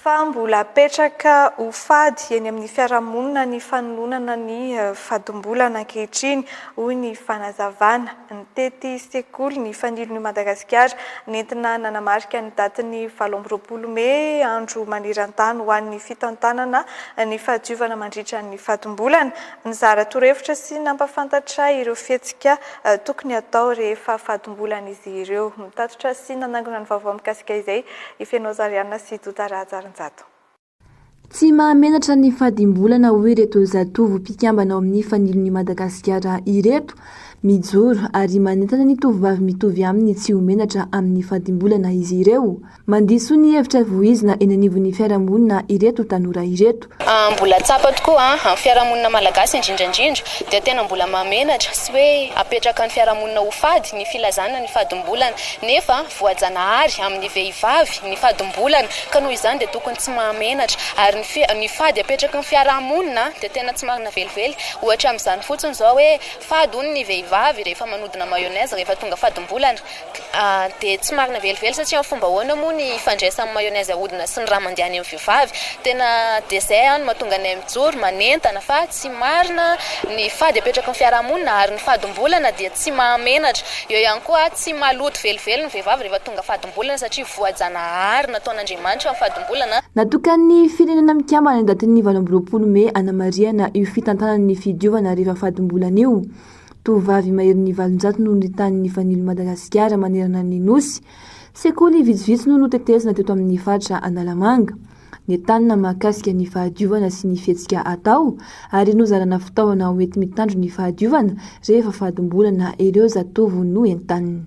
fa mbola apetraka ho fady eny amin'ny fiarahamonina ny fanolonana ny eh, fadim-bola ankehitriny, hoy ny fanazavana. Nitety sekoly ny Fanilon'i Madagasikara, nentina nanamarika ny datin'ny valo amby roapolo mey Andro maneran-tany ho an'ny fitantanana ny fahadiovana mandritra ny fatim-bolana. Nizara torohevitra sy nampahafantatra ireo fihetsika tokony hatao rehefa fatim-bolana izy ireo. Nitatitra sy nanangona ny vaovao mikasika izay i Feno Azariana sy Dota Rahajarinjato. Tsy mahamenatra ny fadimbolana hoy ireto zatovo mpikambana ao amin'ny Fanilon'i Madagasikara ireto. Mijoro ary manentana ny tovovavy mitovy aminy tsy ho menatra amin'ny fadimbolana izy ireo. Mandiso ny hevitra vohizina eny anivon'ny fiarahamonina ireto tanora ireto. Mbola tsapa tokoa an, amin'ny fiarahamonina malagasy indrindra indrindra dia tena mbola mahamenatra sy hoe apetraka ny fiarahamonina ho fady ny filazana ny fadimbolana nefa voajanahary amin'ny vehivavy ny fadimbolana ka noho izany dia tokony tsy mahamenatra, ary ny fi, ny fady apetraky ny fiaraha-monina dia tena tsy marina velively, ohatra amin'izany fotsiny izao hoe fady hono ny vehivavy rehefa manodina mayonnaise rehefa tonga fadim-bolana, dia tsy marina velively satria amin'ny fomba ahoana moa ny ifandraisan'ny mayonnaise ahodina sy ny rà mandeha any amin'ny vehivavy, tena dia izay an no mahatonga anay mijoro manentana fa. tsy marina, ny fady apetraky ny fiarahamonina ary ny fadim-bolana dia tsy mahamenatra. Eo ihany koa, tsy maloto velively ny vehivavy rehefa tonga fadim-bolana satria voajanahary nataon'Andriamanitra ny fadim-bolana. Natokan'ny Firenena Mikambana ny datin'ny valo amby roapolo mey hanamarihana io fitantanana ny fidiovana rehefa fadim-bolana io. Tovovavy maherin'ny valonjato no nitany nifanilo Madagasikara manerana ny Nosy. Sekoly vitsivitsy no notetezina teto amin'ny faritra Analamanga. ny tanana mahakasika ny fahadiovana sy ny fihetsika atao ary nozarana fitaovana ho enti-mitandro ny fahadiovana rehefa fadimbolana ireo zatovo noentanina.